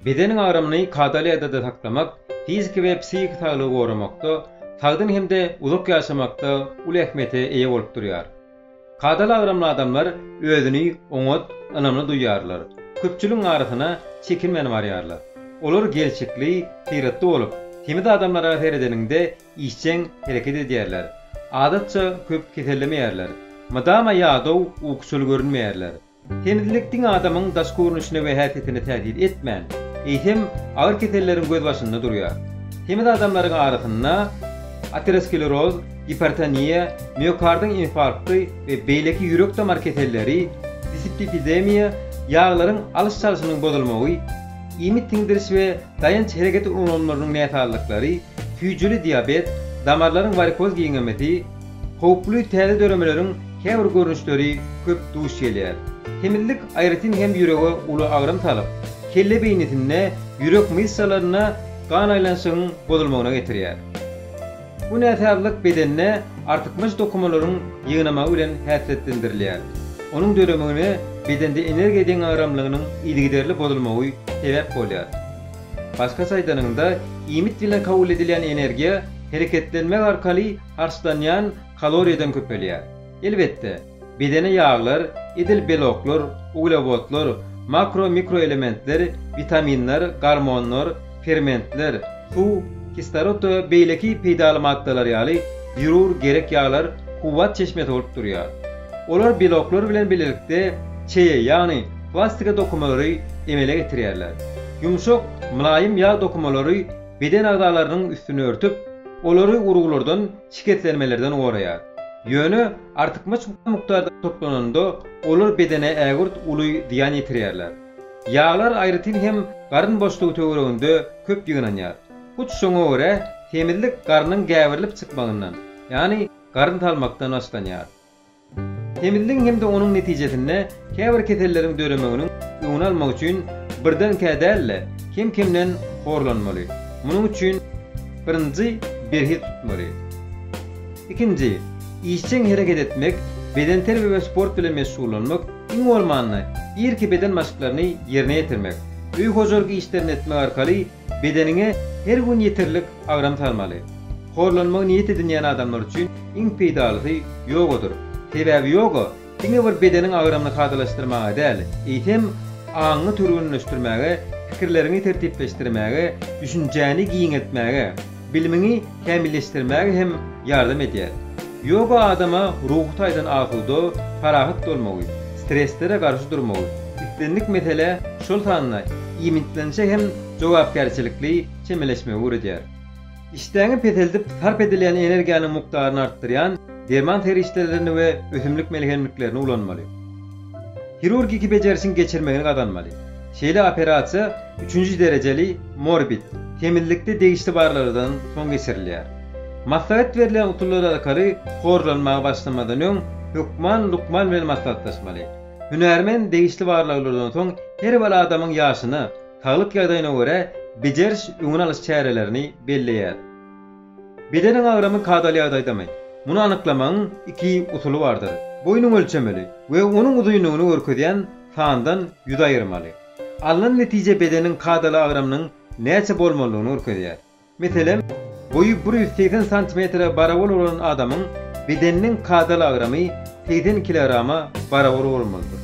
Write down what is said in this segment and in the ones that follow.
Bedeniň agramyny kadaly ýagdaýda saklamak fiziki we psihiki saglygy goramakda, sagdyn hem-de uzak ýaşamakda uly ähmiýete eýe bolup durýar. Kadaly agramly adamlar özüni oňat, ynamly duýýarlar. Köpçüligiň arasyna çekinmän barýarlar. Olar gelşikli, syratly bolup, semiz adamlara seredeniňde işjeň hereket edýärler. Adatça köp kesellemeýärler. Mydama ýadaw, ukuçyl görünmeýärler. Semizlik diňe adamyň daş görnüşine we häsiýetine täsir etmän, eýsem, agyr keselleriň gözbaşynda durýar. Semiz adamlaryň arasynda ateroskleroz, gipertoniýa, miokardyň infarkty we beýleki ýürek-damar keselleri, displipidemiýa, ýaglaryň alyş-çalşynyň bozulmagy, iýmit siňdiriş we daýanç-hereket ulgamlarynyň näsazlyklary, süýjüli diabet, damarlaryň warikoz giňemesi, Howply täze döremeleriň käbir görnüşleri köp duş gelýär. Semizlik aýratyn hem ýürege uly agram salyp, kelle beýnisinde ýürek myşsalaryna gan aýlanyşygyň bozulmagyna getirýär. Bu näsazlyk bedende artykmaç dokumalaryň ýygnamagy bilen häsiýetlendirilýär. Onuň döremegine bedende energiýa deňagramlygynyň yzygiderli bozulmagy sebäp bolýar. Başgaça aýdanyňda, iýmit bilen kabul edilýän energiýa hereketlenmek arkaly harçlanýan kaloriýadan köpelýär. Elbetde, bedene ýaglar, edil beloklar, uglewodlar, makro-mikroelementler, witaminler, gormonlar, fermentler, suw, kislorod we beýleki peýdaly maddalar ýaly zerur gerek ýaglar kuwwat çeşmesi bolup durýar. Olar beloklar bilen bilelikde çeýe, ýagny plastika dokumalary emele getirýärler. Ýumşak, mylaýym ýag dokumalary beden agzalarynyň üstüni örtüp, olary uruglardan, şikeslenmelerden goraýar. Ýöne artykmaç mukdarda toplananda, olar bedene ägirt uly zyýan ýetirýärler. Ýaglar aýratyn hem garyn boşlugy töwereginde köp ýygnanýar. Hut şoňa görä, semizlik garnyň gäberilip çykmagyndan, ýagny garyn salmakdan başlanýar. Semizligiň hem-de onuň netijesinde käbir keselleriň döremeginiň öňüni almak üçin birdenkä däl-de, kem-kemden horlanmaly. Munuň üçin birinji, berhiz tutmaly. Ikinji, işjeň hereket etmek, bedenterbiýe we sport bilen meşgullanmak, iň bolmanda, irki beden maşklaryny ýerine ýetirmek. Öý hojalyk işlerini etmek arkaly Bedeniňe her gün ýeterlik agram salmaly. Horlanmagy niýet edinýän adamlar üçin iň peýdalysy ýogadyr. Sebäbi ýoga diňe bir bedeniň agramyny kadalaşdyrmaga däl, eýsem, aňyňy türgenleşdirmäge, pikirleriňi tertipleşdirmäge, düşünjäni giňeltmäge, Bilimiňi kämilleşdirmäge hem ýardam edýär. Ýoga adama ruhy taýdan asuda, parahat bolmagy, stresslere garşy durmagy, islendik meselä, şol sanda iýmitlenişe hem jogapkärçilikli çemeleşmegi öwredýär. Işdäňi peseldip, sarp edilýän energiýanyň mukdaryny artdyrýan derman serişdelerini we ösümlik melhemliklerini ulanmaly. Hirurgiki bejerişiň geçirmegini gazanmaly. Şeýle operasiýa üçünji derejeli morbid semizlikde degişli barlaglardan soň geçirilýär. Maslahat berlen usullar arkaly horlanmaga başlamadan öň hökman lukman bilen maslahatlaşmaly. Hünärmen degişli barlaglardan soň her bir adamyň ýaşyna, saglyk ýagdaýyna görä bejeriş-öňüni alyş çärelerini belleýär. Bedeniň agramy kadaly ýagdaýdamy? Muny anyklamagyň iki usuly bardyr. Boýnuňy ölçemeli we onuň uzynlygyny görkezýän sandan ýüz aýyrmaly. Alnan netije bedeniň kadaly agramynyň näçe bolmalydygyny görkezýär. Meselem, boýy bir ýüz segsen santimetre barabar bolan adamyň bedeniniň kadaly agramy segsen kilograma barabar bolmalydyr.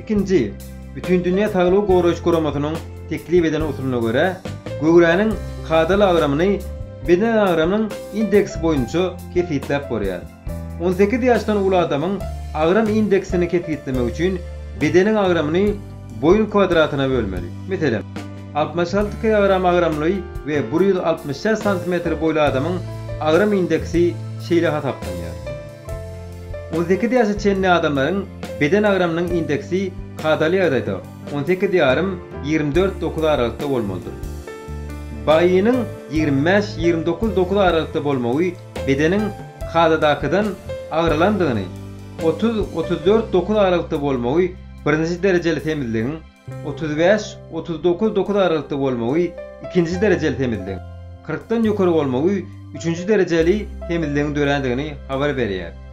Ikinji, Bütindünýä Saglygy Goraýyş Guramasynyň teklip eden usulyna görä, göwräniň kadaly agramyny beden agramynyň indeksi boýunça kesgitläp bolýar. On sekiz ýaşdan uly adamyň agram indeksini kesgitlemek üçin bedeniň agramyny boýun kwadratyna bölmeli. Meselem, altmyş alty kilogram agramly we bir ýüz altmyş şäht santimetr boýly adamyň agram indeksi şeýle hasaplanýar. On sekiz ýaşa çenli adamlaryň beden agramynyň indeksi kadaly ýagdaýda On sekiz ýarym, ýigrimi dört dokuz aralykda bolmalydyr. BAI-niň ýigrimi bäş, ýigrimi dokuz dokuz aralykda bolmagy bedeniň kadadakydan agyrylandygyny, otuz, otuz dört dokuz aralykda bolmagy birinji derejeli semizligiň, otuz bäş, otuz dokuz dokuz aralykda bolmagy ikinji derejeli semizligiň, kyrkdan ýokary bolmagy üçünji derejeli semizligiň dörändigini habar berýär.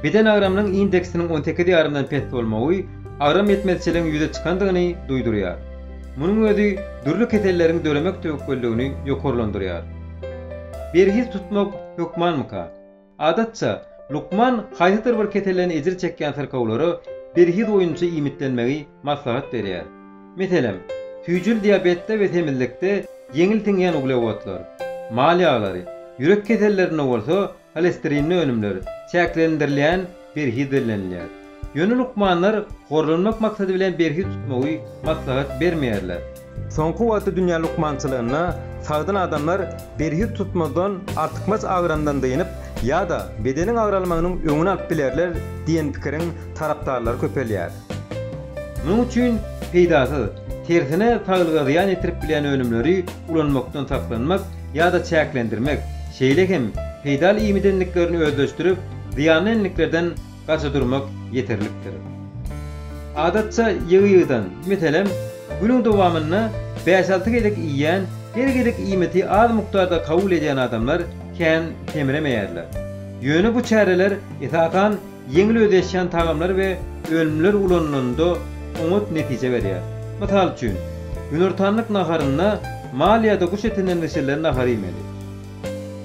Beden agramynyň indeksiniň on sekiz ýarymdan pes bolmagy agram ýetmezçiligiň ýüze çykandygyny duýdurýar. Munuň özi dürli keselleriň döremek töwekgelligini ýokarlandyrýar. Berhiz tutmak hökmanmyka? Adatça, lukman haýsydyr bir keselden ejir çekýän syrkawlara berhiz boýunça iýmitlenmegi maslahat berýär. Meselem, süýjül diabetde we semizlikde ýeňil siňýän uglewodlar, mal ýaglary, ýürek kesellerinde bolsa holesterinli önümler çäklendirilýän berhiz bellenilýär. Ýöne lukmanlar gorlanmak maksady bilen berhiz tutmagy maslahat bermeýärler. Soňky wagtda dünýä lukmançylygynda sagdyn adamlar berhiz tutmazdan artykmaç agyrandan dynyp ýa-da bedeniň agralmagynyň öňüni alyp bilerler diýen pikiriň tarapdarlary köpelýär. Munuň üçin peýdasyz, tersine saglyga zyýan ýetirip bilýän önümleri ulanmakdan saklanmak ýa-da çäklendirmek, şeýle hem peýdaly iýmidenliklerini özleşdirip, zyýanly enliklerden gaça durmak ýeterlikdir. Adatça ýygy-ýygydan, meselem, günüň dowamynda bäş-alty gezek iýýän, her gezek iýmiti az mukdarda kabul edýän adamlar kän kemremeýärler. Ýöne bu çäreler, esasan, Ýeňil özleşýän tagamlar we önümler ulanylanda oňat netije berýär. Mysal üçin, günortanlyk naharynda mal ýa-da guş etinden bişirilen nahar iýmeli.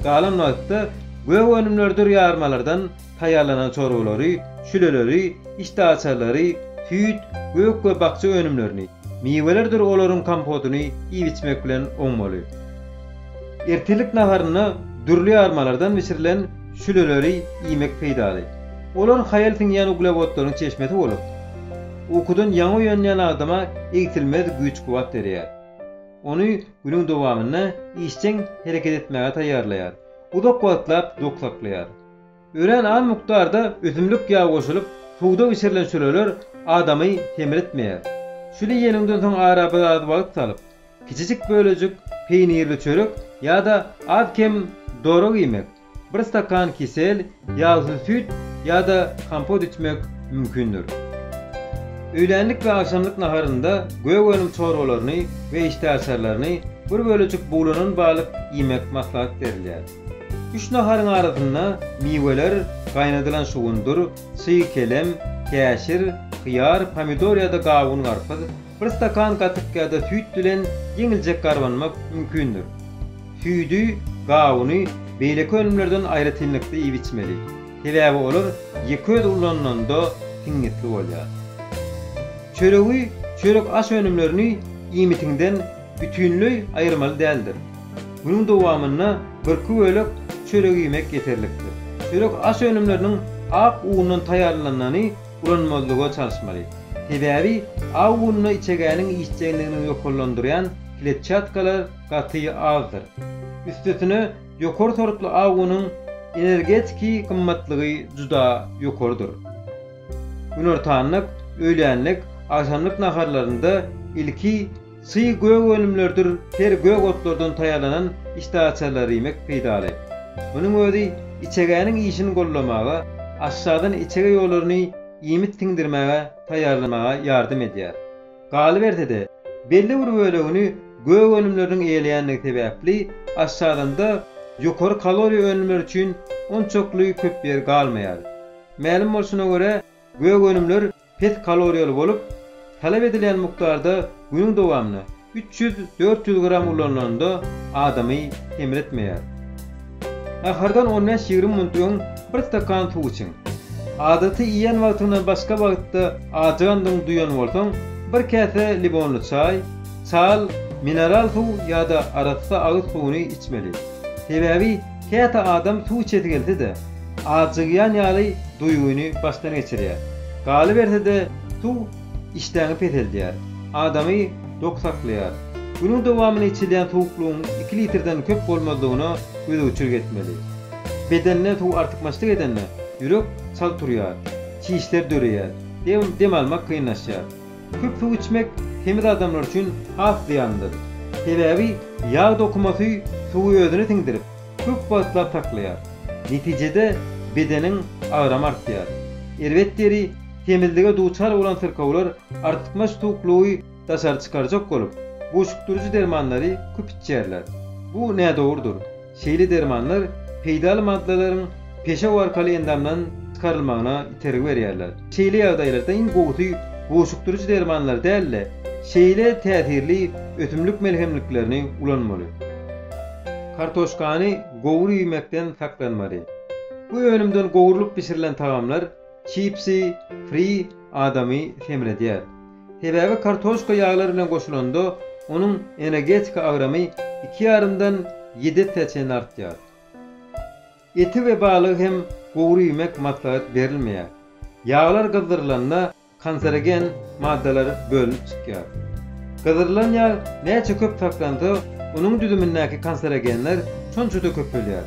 Galan wagtda gök önümlerdir ýarmalardan taýýarlanan çorbalary, şüleleri, işdäaçarlary, süýt, gök we bakja önümlerini, miwelerdir olaryň kompotyny iýip-içmek bilen oňmaly. Ertirlik naharynda dürli ýarmalardan bişirilen Şüleleri iýmek peýdaly. Olar haýal siňýän uglewodlaryň çeşmesi bolup, ukudan ýaňy oýanýan adama egsilmez güýç-kuwwat berýär. Ony günüň dowamynda işjeň hereket etmäge taýýarlaýar, uzak wagtlap dok saklaýar. Örän az mukdarda ösümlik ýagy goşulyp, suwda bişirilen şüleler adamy semiritmeýär. Şüle iýeniňden soň ara biraz wagt salyp, Kiçijik bölejik peýnirli çörek ýa-da az-kem dorag iýmek, bir stakan kisel ýagsyz süýt ýa-da kompot içmek mümkindir. Öýlänlik we agşamlyk naharynda gök önüm çorbalaryny we işdäaçarlaryny, bir bölejik buglanan balyk iýmek maslahat berilýär. Üç naharyň arasynda miweler, gaýnadylan şugundyr, çyg kelem, käşir, hyýar, pomidor ýa-da gawun-garpyz, Bir stakan gatyk ýa-da süýt bilen ýeňiljek garbanmak mümkindir. Süýdi, gawuny beýleki önümlerden aýratynlykda iýip-içmeli, sebäbi olar ýekeözi ulanylanda siňňitli bolýar. Çöregi, çörek-aş önümlerini iýmitiňden bütinleý aýyrmaly däldir. Günüň dowamynda birki bölek çörek iýmek ýeterlikdir. Çörek-aş önümleriniň ak undan taýýarlanany ulanmazlyga çalyşmaly. Sebäbi aw gününe içegäniň işjeňligini ýokarlandyrýan kletçatkalar gaty azdyr. Üstesine, ýokary sortly aw güniň energetiki gymmatlygy juda ýokarydyr. Günortanlyk, öýlänlik, agşamlyk naharlarynda ilki Çyg gök önümlerdir ter gök otlardan taýýarlanan işdäaçarlary iýmek peýdaly. Munuň özi içegäniň işini goldamaga, aşadan içege ýollaryny iýmit siňdirmäge taýýarlamaga ýardam edýär. Galyberse-de, belli bir bölegini gök önümleriniň eýeleýändigi sebäpli, aşadanda ýokary kaloriýa önümleri üçin onçakly köp ýer galmaýar. Mälim bolşuna görä, gök önümler pes kaloriýaly bolup, talap edilýän mukdarda günüň dowamynda üç ýüz, dört ýüz gram ulanylanda adamy semretmeýär. Nahardan on bäş, ýigrimi minut öň bir stakan suw içiň. Adaty iýen wagtyňdan başga wagtda ajygandygyňy duýan bolsaň, bir käse limonly çaý, çal, mineral suw ýa-da arassa agyz suwuny içmeli. Sebäbi Käte adam suw içesi gelse-de, ajygýan ýaly duýgyny başdan geçirýär. Galyberse-de, suw işdäňi peseldýär, adamy dok saklaýar. Günüň dowamynda içilýän suwuklygyň iki litrden köp bolmazlygyna gözegçilik etmeli. Bedende suw artykmaçlyk edende, ýürek çalt urýar, çişler döreýär, dem almak kynlaşýar. Köp suw içmek semiz adamlar üçin has zyýanlydyr. Sebäbi ýag dokumasy suwy özüne siňdirip, köp wagtlap saklaýar. Netijede bedeniň agramy artýar. Erbet deri, Semizlige duçar bolan syrkawlar artykmaç suwuklygy daşary çykarjak bolup, buşukdyryjy dermanlary köp içýärler. Bu nädogrudyr. Şeýle dermanlar peýdaly maddalaryň peşew arkaly endamdan çykarylmagyna itergi berýärler. Şeýle ýagdaýlarda iň gowusy goşukdyryjy dermanlary däl-de, şeýle täsirli ösümlik melhemliklerini ulanmaly. Kartoşkany gowur iýmekden saklanmaly. Bu önümden gowrulyp bişirilen tagamlar, çipsi, fri, adamy semredýär. Sebäbi kartoşka ýaglar bilen goşulanda onuň energetika agramy iki ýarymdan ýedi esse çenli artýar. Eti we balygy hem gury iýmek maslahat berilmeýär. Ýaglar gyzdyrylanda kanserogen maddalar bölünip çykýar. Gyzdyrylan ýag näçe köp saklansa, onuň düzümindäki kanserogenler şonça-da köpelýär.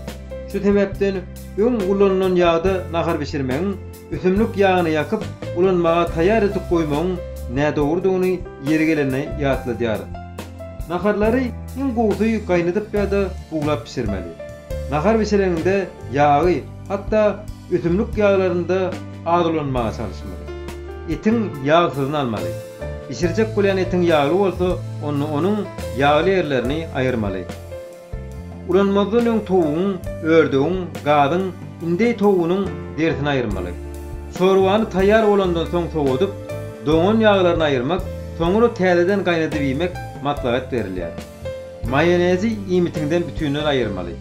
Şu sebäpden öň ulanylan ýagda nahar bişirmegiň Ösümlik ýagyny ýakyp, ulanmaga taýýar edip goýmagyň nädogrudygyny ýeri gelende ýatladýarys. Naharlary iň gowusy gaýnadyp ýa-da buglap bişirmeli. Nahar bişireňiňde ýagy, hatda ösümlik ýaglaryny-da az ulanmaga çalyşmaly. Etiň ýagsyzyny almaly. Bişirjek bolýan etiň ýagly bolsa, onda onuň ýagly ýerlerini aýyrmaly. Ulanmazdan öň towugyň, ördegiň, gazyň, indeý towugynyň, derisini aýyrmaly. Çorbany taýýar bolandan soň sowadyp, doňan ýaglaryny aýyrmak, soňra täzeden gaýnadyp iýmek maslahat berilýär. Maýonezi iýmitiňden bütinleý aýyrmaly.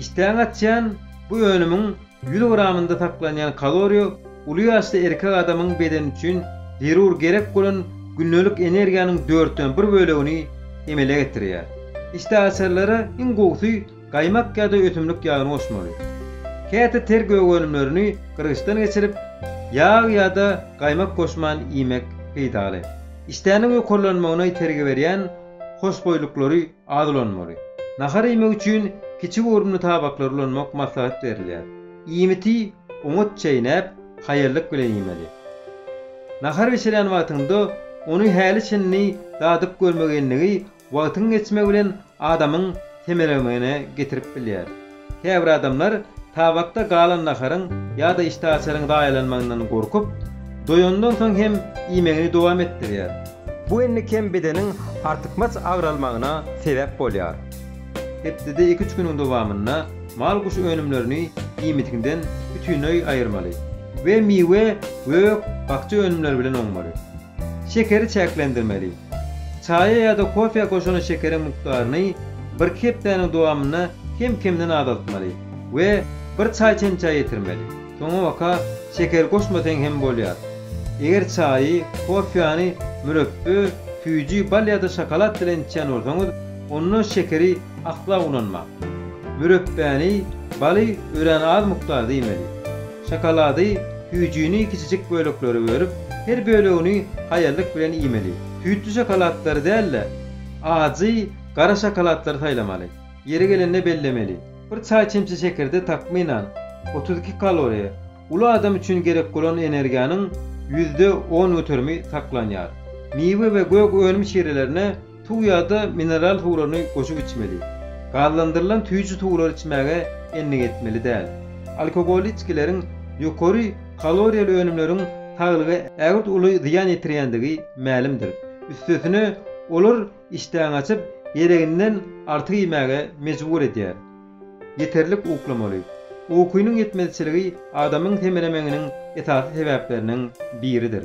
Işdäňi açýan bu önümiň Ýüz gramynda saklanýan kaloriýa uly ýaşly erkek adamyň bedeni üçin zerur gerek bolan gündelik energiýanyň dörtden bir bölegini emele getirýär. Işdäaçarlara iň gowusy gaýmak ýa-da ösümlik ýagyny goşmaly. Käte ter gögönümlerini gyrgyçdan geçirip, ýag ýa-da gaýmak goşman iýmek peýdaly. Işdäniň ýokarlanmagyna itergi berýän hoşboýlyklary Az ulanmaly. Nahar iýmek üçin kiçi görnümli tabaklary ulanmak maslahat berilýär. Iýmiti oňat çeýnäp, haýallyk bilen iýmeli. Nahar bişirýän wagtyňda ony häli-şindi dadyp görmegenligi wagtyň geçmegi bilen adamyň semeremegine getirip bilýär. Käbir adamlar tabakda galan naharyň ýa-da işdäaçaryň zaýalanmagyndan gorkup, doýandan soň hem iýmegini dowam etdirýär. Bu enli kem bedeniň artykmaç agralmagyna sebäp bolýar. Hepdede iki-üç günüň dowamynda mal-guş önümlerini iýmitiňden bütinleý aýyrmaly we miwe, gök, bakja önümleri bilen oňmaly. Şekeri çäklendirmeli. Çaýa ýa-da kofä goşan şekeriň mukdaryny birki hepdäniň dowamynda kem-kemden azaltmaly we bir çaý çemçä ýetirmeli. Soňabaka şeker goşmasaň hem bolýar. Eger çaýy, kofäni mürepbe, süýji, bal ýa-da şokolad bilen içýän bolsaňyz, onda şekeri asla ulanmaň. Mürepbäni, baly örän az mukdarda iýmeli. Şokolady süýjini kiçijik böleklere bölüp, her bölegini haýallyk bilen iýmeli. Süýtli şokolatlary däl-de, ajy, gara şokolatlary saýlamaly. Ýeri gelende bellemeli, bir çaý çemçe şekerde takmynan, otuz iki kaloriýa, uly adam üçin gerek bolan energiýanyň ýüzde on göterimi saklanýar. Miwe we gök önüm şirelerine Suw ýa-da mineral suwlaryny goşup içmeli. Gazlandyrylan süýji suwlary içmäge endik etmeli däl. Alkogolly içgileriň, ýokary kaloriýaly önümleriň saglyga ägirt uly zyýan ýetirýändigi mälimdir. Üstesine, olar işdäňi açyp, gereginden artyk iýmäge mejbur edýär. Ýeterlik uklamaly. Ukynyň ýetmezçiligi adamyň semelemeňiniň esasy sebäpleriniň biridir.